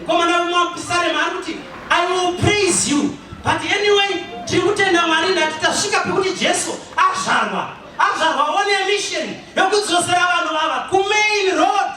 Mukomana umwe wapisarema ari kuti I will praise you but anyway tiri kutenda Mwari ndati tasvika pekuti Jesu azvarwa azvarwa one mission yokudzosera vanhu vava kumain road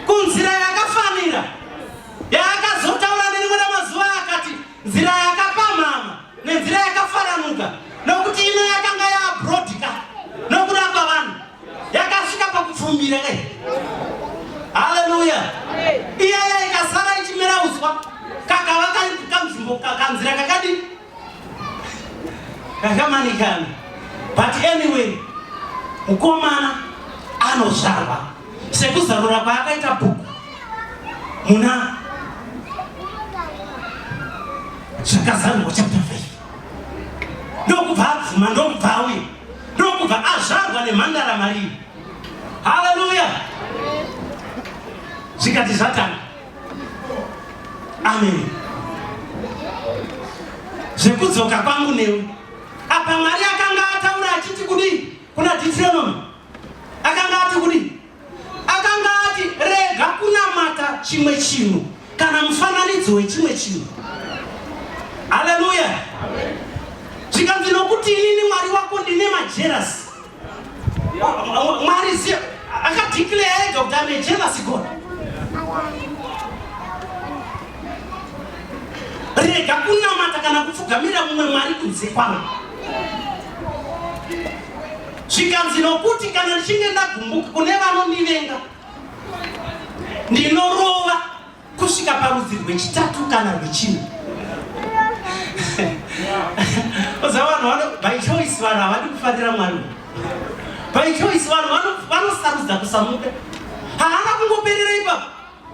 kunzira yakafanira yaakazotaura nerimwe ramazuva akati nzira yakapamhama nenzira yakafaranuka nokuti ino yakanga yaabrodika nokurapa vanhu yakasvika pakupfumbira kai haleluya iyaya ikasara ichimera uswa kakava kari kanzvimbo kanzira kakadi kakamanikana but anyway mukomana anozvarwa sekuzarura kwaakaita bhuku muna zvakazarurwa chapter 5 ndokubva abvuma ndokubva auye ndokubva azvarwa nemhandara marii haleluya zvikati zvatanga amen zvekudzoka kwangu newe apa mwari akanga ataura achiti kudii Kuna Deuteronomy akanga ati kudii? Akanga ati rega kunamata chimwe chinhu kana mufananidzo wechimwe chinhu. Haleluya! Zvikanzi nokuti inini Mwari wako ndine majerasi. Mwari akadeclare ega kuti ane jerasi God. rega kunamata kana kupfugamira mumwe mwari kunze kwavo zvikanzi nokuti kana ndichinge ndagumbuka kune vanondivenga ndinorova kusvika parudzi rwechitatu kana rwechina oza vanhu vano by choice vanhu havadi kufarira mwari by choice vanhu vanosarudza kusamuka haana kungoperera ipapo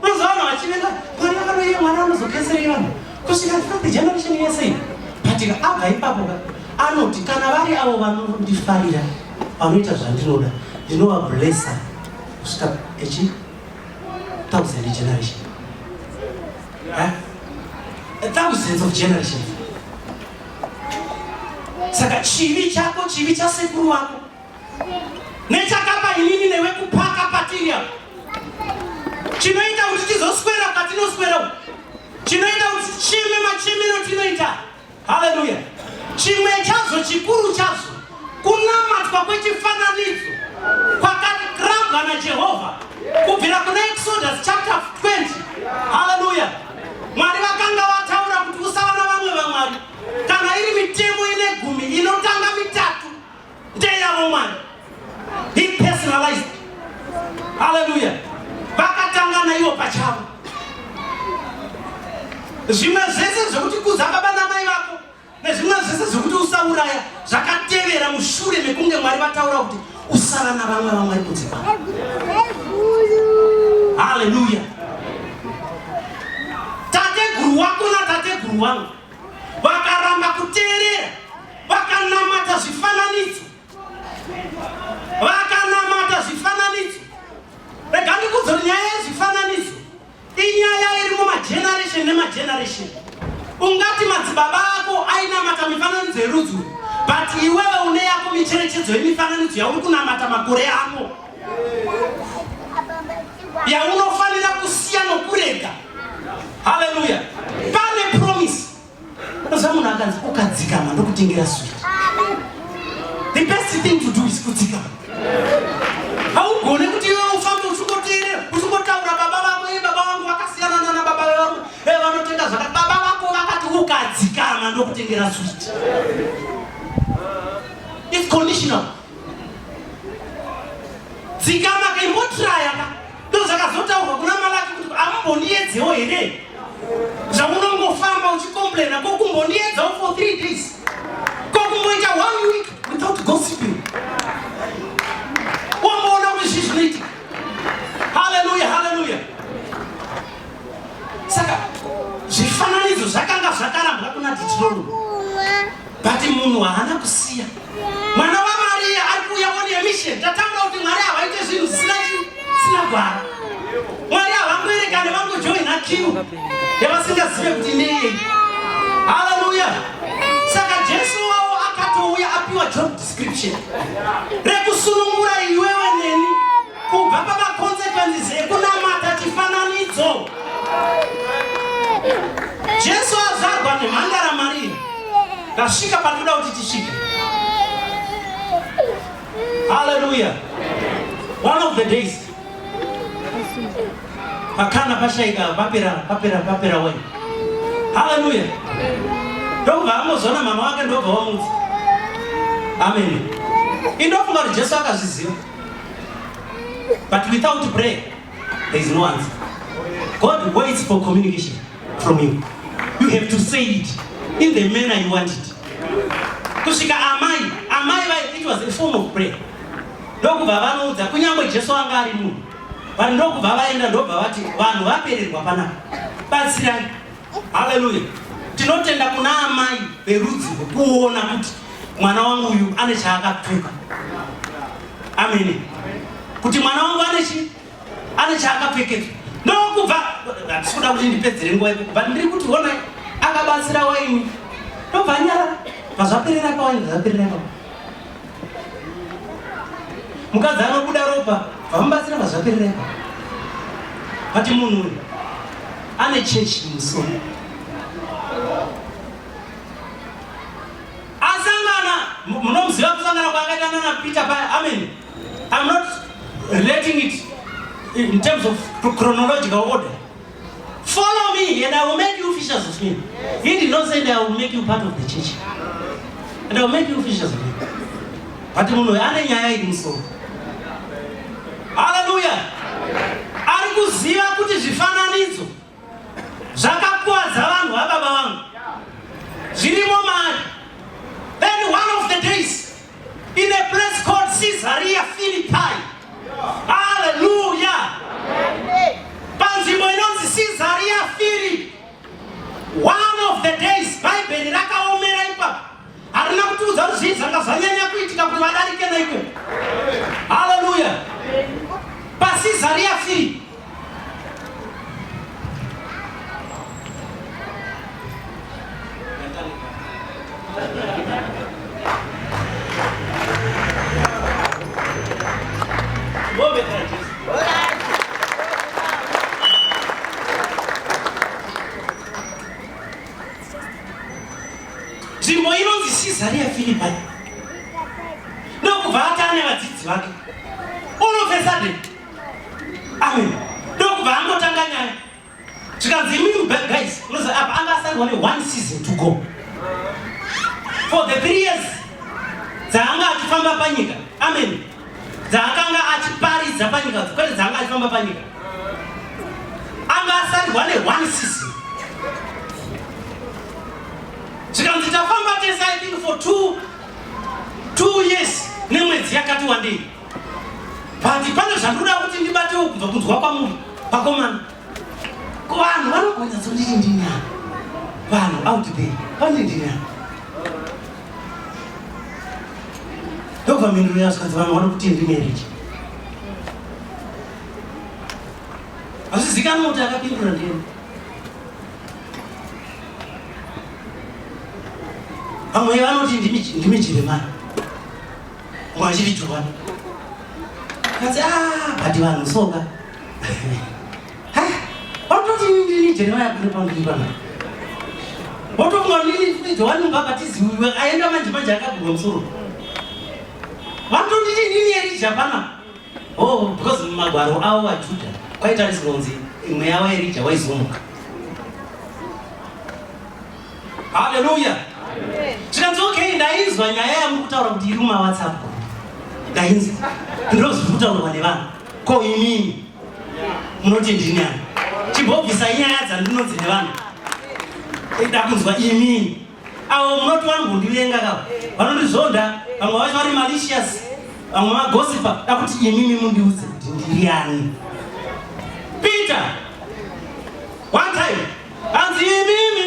Mazuva ano hachivenga mwari vakanoyera mwana anozokeserei vanhu kusvika third generation yese iyi patika abva ipapo ka anoti kana vari avo vanondifarira vanoita zvandinoda ndinovablessa kusvika echi thousand generation eh? thousands of generation saka chivi chako chivi chasekuru wako nechakapa inini newe kupaka patiri apa chinoita kuti tizoswera patinoswera uku chinoita kuti chime machimiro tinoita haleluya chimwe chazvo chikuru chazvo kunamatwa kwechifananidzo kwakarambwa najehovha kubvira kuna exodus chapter 20 haleluya mwari vakanga vataura kuti usava na vamwe vamwari kana iri mitemo ine gumi inotanga mitatu ndeyavo mwari he personalized haleluya vakatanga naivo pachavo zvimwe zvese zvekuti kuza baba namai vako nezvimwe zvese zvekuti usauraya zvakatevera mushure mekunge mwari vataura kuti usava navamwe vamwari kunze kwavo haleluya tateguru wako natateguru wangu Vakaramba kuteerera, vakanamata zvifananidzo, vakanamata zvifananidzo. Rega ndikudzo nyaya yezvifananidzo inyaya iri mumageneration nemageneration. Ungati madzibaba ako ainamata mifananidzo yerudzi but iwewe une yako micherechedzo yemifananidzo yauri kunamata makore ako. yaunofanira kusiya nokurega haleluya pane promise unoziva munhu akanzi ukadzikama ndokutengera swit the best thing to do is kudzikama haugone kuti iwe ufambe uchingoteerera uchingotaura baba vako e baba vangu vakasiyana nana baba vangu e eh, vanotenda zvaka baba vako vakati ukadzikama ndokutengera swit its conditional dzikama ka imbotiraya ka ndozvakazotaurwa kuna malaki kuti amumboniyedzewo here zvamunongofamba uchikomplaina ko kumboniyedzawo for three days ko kumboita one week without gossiping wamboona kuti zvi zvinoitika haleluya haleluya saka zvifananidzo zvakanga zvakarambwa kuna titirolo But munhu haana kusiya mwana waMaria ari kuuya on a mission. Tatambura kuti Mwari havaite zvinhu zvisina zvisina gwara. Mwari havangoerekane vangojoina kiu yavasingazive kuti nei. Haleluya! Saka Jesu wavo akatouya apiwa job description rekusunungura iwewe neni Kubva pamaconsequences ekunamata chifananidzo. Jesu azvarwa nemhandara Maria. Ndasvika pandinoda kuti tisvike. Hallelujah. One of the days. Pakana pashaika papera papera papera wena. Hallelujah. Ndobva amozona mama wake ndobva wamudza. Amen. Indofunga kuti Jesu akazviziva. But without prayer, there is no answer. God waits for communication from you. You have to say it in the manner you want it. Kusvika amai, amai vai, it was a form of prayer. Ndokubva vanoudza kunyangwe Jesu anga ari munhu. Vanhu ndokubva vaenda ndobva vati vanhu vapererwa panapa. Batsirai. Haleluya. Tinotenda kuna amai verudzi kuona kuti mwana wangu uyu ane chaakatuka. Amen. Kuti mwana wangu ane chi ane chaakapfekedzwa. Ndokubva ndikuda kuti ndipedzere nguva yako. But ndiri kuti ona akabatsira waini. Ndobva nyara. Pazvaperera pawaini zvaperera pawaini. mukadzi anobuda ropa vamubatsira vazvapererepa vati munhu uyu ane chechi musoro asangana munomuziva kusangana kwaakaita nana peter paya amen i'm not relating it in terms of chronological order Follow me and I will make you fishers of men. He did not say that I will make you part of the church. And I will make you fishers of men. But munhu ane nyaya iri musoro. Hallelujah. Ari kuziva kuti zvifananidzo zvakakuwadza vanhu vababa vangu. Zvirimo mari. Then one of the days In a place called Caesarea Philippi. Hallelujah. Panzvimbo inonzi Caesarea Philippi. One of the days Bible rakaomera ipapo. Harina kutiudza kuti zvii zvanga zvanyanya kuitika kuti vadarike naiko. Hallelujah. PaCaesarea Philippi. nzvimbo inonzi sizari yafiripai ndokubva atane vadzidzi vake all of a sudden Amen. Ndokubva angotanga nyaya. Zvikanzi imimi guys, unoziva apa anga asarwa ne one season to go. For the three years dzaanga achifamba panyika. Amen. Dzaakanga achiparidza panyika, kwete dzaanga achifamba panyika. Anga asarwa ne one season. Zvikanzi tafamba tese I think for two two years nemwedzi yakati wandei. but pane zvandoda kuti ndibatewo kubva kunzwa kwamuri vakomana ko vanhu vanogonyaso ndiri ndinyana vanhu out there pane ndinyana ndobva mhinduro yasikazi vanhu vano kuti ndi marriage hazvizikanwa kuti akapindura ndiyena vamwe vanoti ndimi jeremani Mwachiri chokwadi. Kati ah, but vanhu soka. Ha, watoti ndini Jeremiah kuri pambiri pana. Wotofunga kuti ndini futi Johani Mubhabhatizi uyu aenda manje manje akagurwa musoro. Vanotonditi ndini Erija pana. Oh, because mumagwaro avo vaJudha kwaitariswa kunzi mweya waErija waizomuka. Hallelujah. Zvikanzi okay ndainzwa nyaya yamuri kutaura kuti iri muma WhatsApp. Ndainzwa. Ndozviri kutaurwa nevanhu. Ko inini munoti ndini ani? Chimbobvisa nyaya dzandinonzi nevanhu. Ida kunzwa inini. Avo munoti wani kundivenga ka. Vanondizonda vamwe vacho vari malicious. Vamwe magosipa da kuti inini mundiudze kuti ndiri ani. Peter. One time Hanzi imimi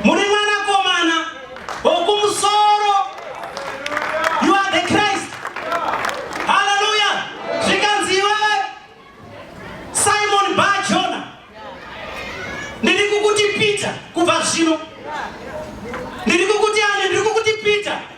muri mwanakomana wokumusoro. You are the Christ. Haleluya. Zvikanzi iwewe Simon Barjona. Ndiri kukuti Peter kubva zvino. Ndiri kukuti ani? Ndiri kukuti Peter.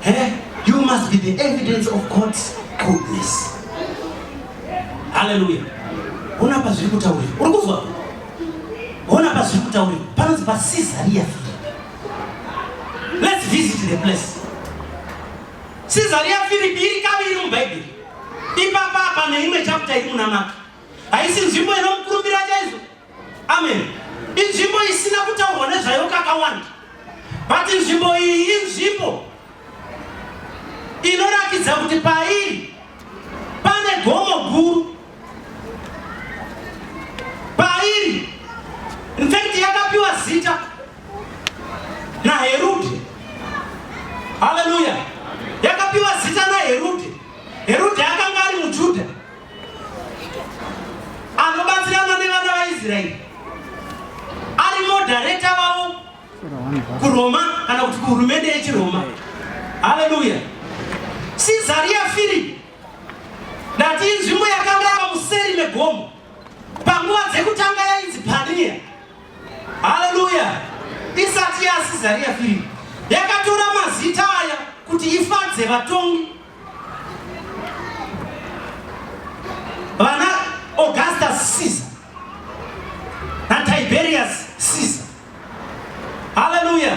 Hey, you must be the evidence of God's goodness. Hallelujah. Ona pazviri kutaurira. Uri kuzwa? Ona pazviri kutaurira. Panonzi pa Caesarea Philippi. Let's visit the place. Caesarea Philippi iri kaviri mu Bible. Ipapa apa neimwe chapter iri muna Mark. Haisi nzvimbo inomukurumbira chaizvo. Amen. Inzvimbo isina kutaurwa nezvayo kakawanda. But inzvimbo iyi inzvimbo inorakidza kuti pairi pane gomo guru. Pairi in fact yakapiwa zita naHerode. Hallelujah. Yakapiwa zita naHerode. Herode akanga ari muJuda. anobatsirana nevana vaisraeri ari modhareta vavo kuroma kana kuti kuhurumende yechiroma haleluya sizariya firipi ndati inzvimbo yakanga yava museri megomo panguva dzekutanga yainzi paniya haleluya isati yasizariya firipi yakatora mazita aya kuti ifadze vatongi vana augustus caesar natiberius caesar haleluya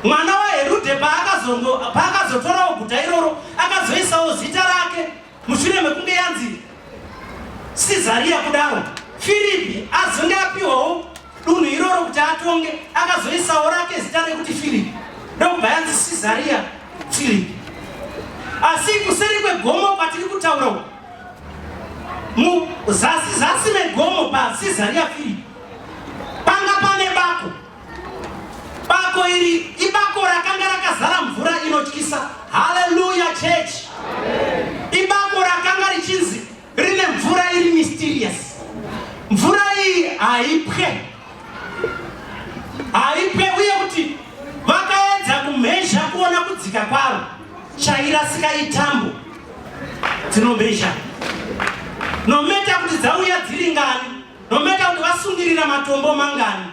mwana waherude paakazotorawo guta iroro akazoisawo zita rake Mushure mekunge yanzi Sizariya kudaro, Firipi azonge apiwawo dunhu iroro kuti atonge, akazoisawo rake zita rekuti Firipi, ndokubva yanzi Sizariya Firipi. Asi kuseri kwegomo kwatiri kutaura uku, muzasi zasi megomo paSizariya Firipi, panga pane bako Bako iri ibako rakanga rakazara mvura inotyisa. Haleluya church. Ibako rakanga richinzi rine mvura iri mysterious. Mvura iyi haipwe. Haipwe uye kuti vakaedza kumhezha kuona kudzika kwaro chairasika itambo dzinomhezha nometa kuti dzauya dziri ngani no matter kuti vasungirira matombo mangani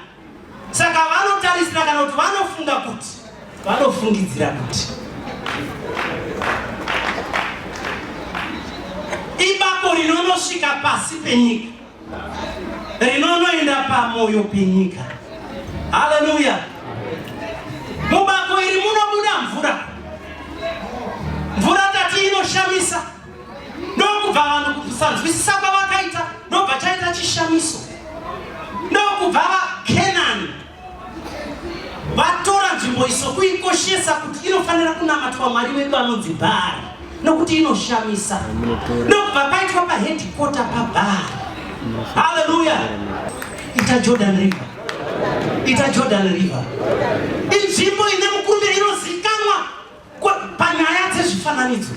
saka vanotarisira kana kuti vanofunga kuti vanofungidzira kuti ibako rinonosvika pasi penyika rinonoenda pamoyo penyika haleluya mubako iri munobuda mvura mvura tati inoshamisa ndokubva vanhu kusanzwisisa kwavakaita ndobva chaita chishamiso ndokubva vakenani vatora nzvimbo iso kuikoshesa kuti inofanira kunamatwa mwari wedu anonzi bhari nokuti inoshamisa ndokubva paitwa pahedhikota pabhari haleluya ita jordan river ita jordan river inzvimbo ine mukumbiro inoziva Panyaya dzezvifananidzo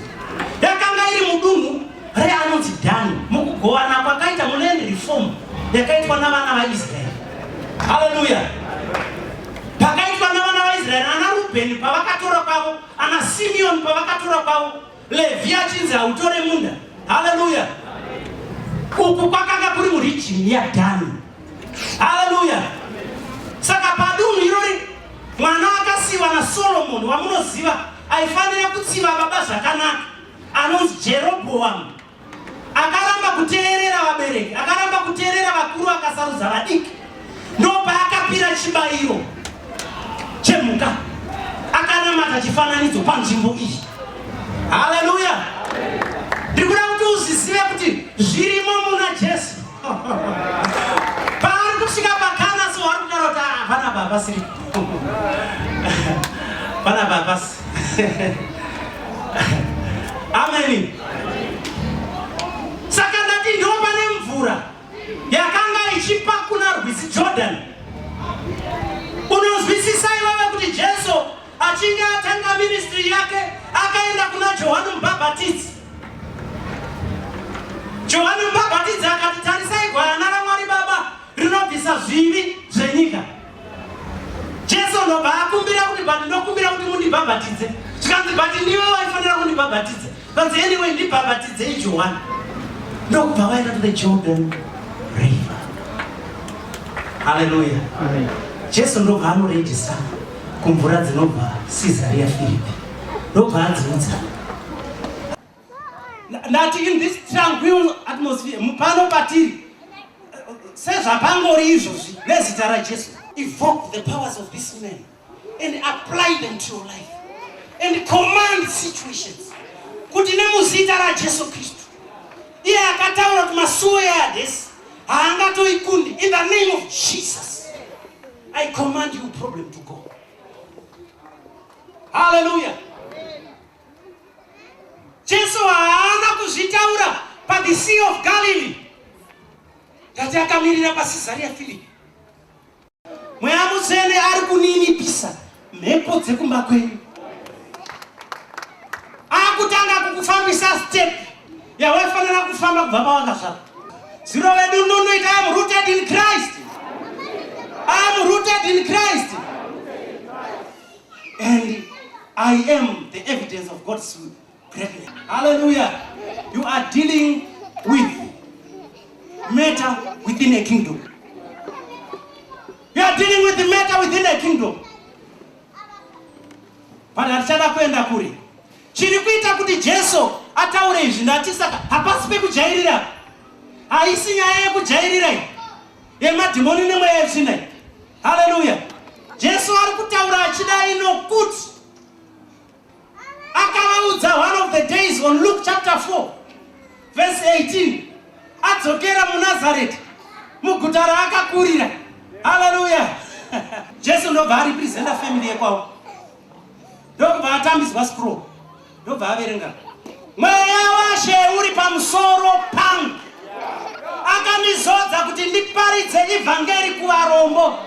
yakanga iri mudunhu reanonzi Dhani mukugovana kwakaita muland reform yakaitwa navana vaIsraeri. Haleluya! Pakaitwa navana vaIsraeri, ana Rubheni pavakatora kwavo, ana Simeoni pavakatora kwavo, Levhi achinzi hautore munda. Haleluya! Uku kwakanga kuri murijini yaDhani. Haleluya! Saka padunhu irori mwana akasiiwa naSolomoni wamunoziva aifanira kutsiva baba zvakanaka anonzi Jerobhoamu akaramba kuteerera vabereki, akaramba kuteerera vakuru, akasarudza vadiki. Ndopaakapira chibayiro chemhuka, akanamata chifananidzo panzvimbo iyi. Haleluya! Ndikuda kuti uzvizive kuti zvirimo muna Jesu. paari kusvika pakana so wari kudaro kuti ah, vana baba siri vana baba ameni saka ndati ndopa nemvura yakanga ichipa kuna rwizi jordan unozwisisa iwewe kuti jesu Achinge atanga ministry yake akaenda kuna Johani Mubhabhatidzi. Johani Mubhabhatidzi akati, tarisai gwayana raMwari Baba rinobvisa zvivi zvenyika. Jesu ndobva akumbira kuti, but ndokumbira kuti mundibhabhatidze. Zvikanzi, but ndiwe waifanira kundibhabhatidza. Vanzi anyway ndibhabhatidzei Johani. Ndokubva vaenda to the Jordan River. Hallelujah. Amen. Jesu ndobva anorejisa kumvura dzinobva Caesarea Philippi. Ndobva adziudza. Ndati in this tranquil atmosphere mupano patiri sezvapangori izvozvi nezita raJesu evoke the powers of this man and apply them to your life and command situations kuti nemuzita rajesu kristu iye akataura kuti masuo eadesi haangatoikundi in the name of jesus i command you problem to go haleluya jesu haana kuzvitaura pathe sea of galilee tati akamirira pacesaria philipi mweya mutsvene ari kuninipisa mhepo dzekumba kwenyu akutanga kukufambisa step yawaifanira kufamba kubva pawakazvara ziro vedu nunu ita am rooted in christ am rooted in christ and i am the evidence of god's greatly. Hallelujah. You are dealing with matter within a kingdom. You are dealing with the matter within a kingdom. Vanhu hatichada kuenda kuri. Chiri kuita kuti Jesu ataure izvi ndati saka hapasi pekujairira. Haisi nyaya yekujairira iyi. Yemadhimoni nemweya yetsvina iyi. Hallelujah. Jesu ari kutaura achidai nokuti akavaudza one of the days on luke chapter 4 verse 18 adzokera munazareti muguta raakakurira haleluya jesu ndobva aripresenta family yekwavo ndokubva atambiswa scroll ndobva averenga Mweya washe uri pamusoro pangu akandizodza kuti ndiparidze ivhangeri kuvarombo,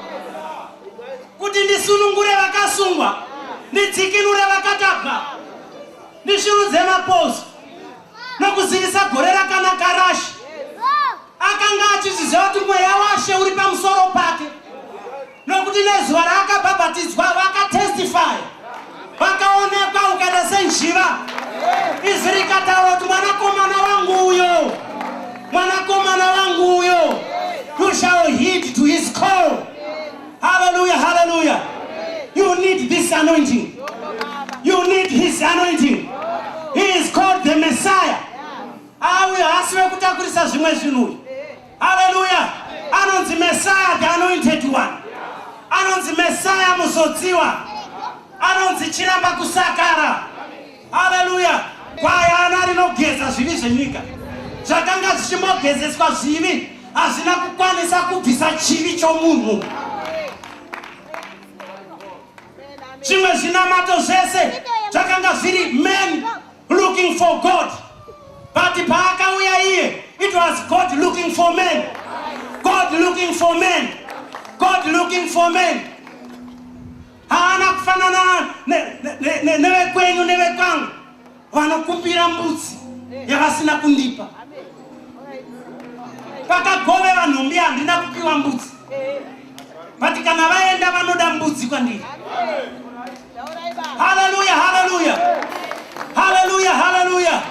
kuti ndisunungure vakasungwa, ndidzikinure vakatapwa, ndishurudze mapozo nokuzivisa gore rakanaka raShe. Akanga achizviziva kuti mweya washe uri pamusoro pake. Nokuti nezuva raakabhabhatidzwa vakatestify, vakaonekwa ukaita senjiva. Izwi rikataura kuti mwanakomana wangu uyo, mwanakomana wangu uyo, you shall heed to his call. Hallelujah, hallelujah. You need this anointing. You need his anointing. He is called the Messiah. Awe hasi vekutakurisa zvimwe zvinhu. Haleluya! Anonzi Messiah the anointed one. Anonzi Messiah muzodziwa. Anonzi chiramba kusakara. Haleluya! Gwayana rinogeza zvivi zvenyika. Zvakanga zvichimogezeswa zvivi hazvina kukwanisa kubvisa chivi chomunhu. Zvimwe zvinamato zvese zvakanga zviri men looking for God but paakauya iye it was God looking for men God looking for men God looking for men haana kufanana nevekwenyu nevekwangu vanokumbira mbudzi yavasina kundipa pakagovera nhumbi handina kupiwa mbudzi vati kana vaenda vanoda mbudzi kwandiri haleluya haleluya haleluya haleluya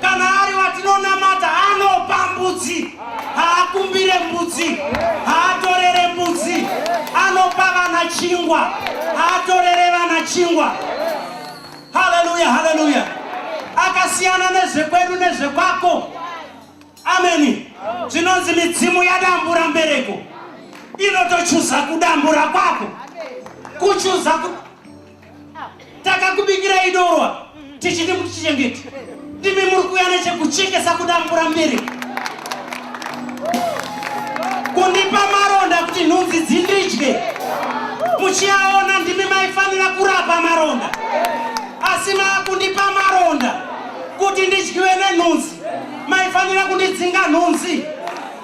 kana ari watinonamata anopa mbudzi haakumbire mbudzi haatorere mbudzi anopa vana chingwa haatorere vana chingwa haleluya haleluya akasiyana nezvekwedu nezvekwako Ameni. Zvinonzi midzimu yadambura mbereko inotochuza kudambura kwako kuchuza ku... takakubikira idorwa tichiti kuti chichengeti ndimi muri kuya nechekuchekesa kudambura mbereko kundipa maronda kuti nhunzi dzindidye muchiaona ndimi maifanira kurapa maronda asi maakundipa maronda kuti ndidyiwe nenhunzi Maifanira kundidzinga nhunzi.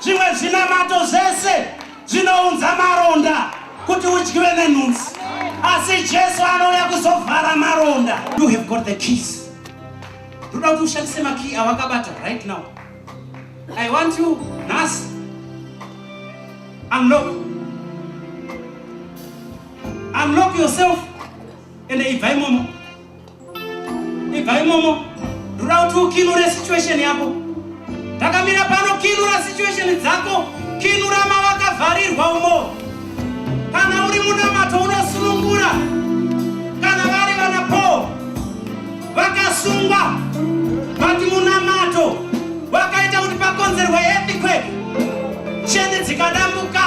Zvimwe zvinamato zvese zvinounza maronda kuti udyiwe nenhunzi. Asi Jesu anouya kuzovhara maronda. You have got the keys. Ndoda kuti ushandise makiyi awakabata right now. I want you nhasi. Unlock. Unlock yourself and ibva imomo. Ibva imomo. Rura kuti ukinure situation yako. Takamira pano kinura situation dzako. Kinura mavakavharirwa umo. Kana uri munamato unosunungura. Kana vari vana Paul vakasungwa. Vati munamato wakaita kuti pakonzerwe earthquake. Cheni dzikadambuka.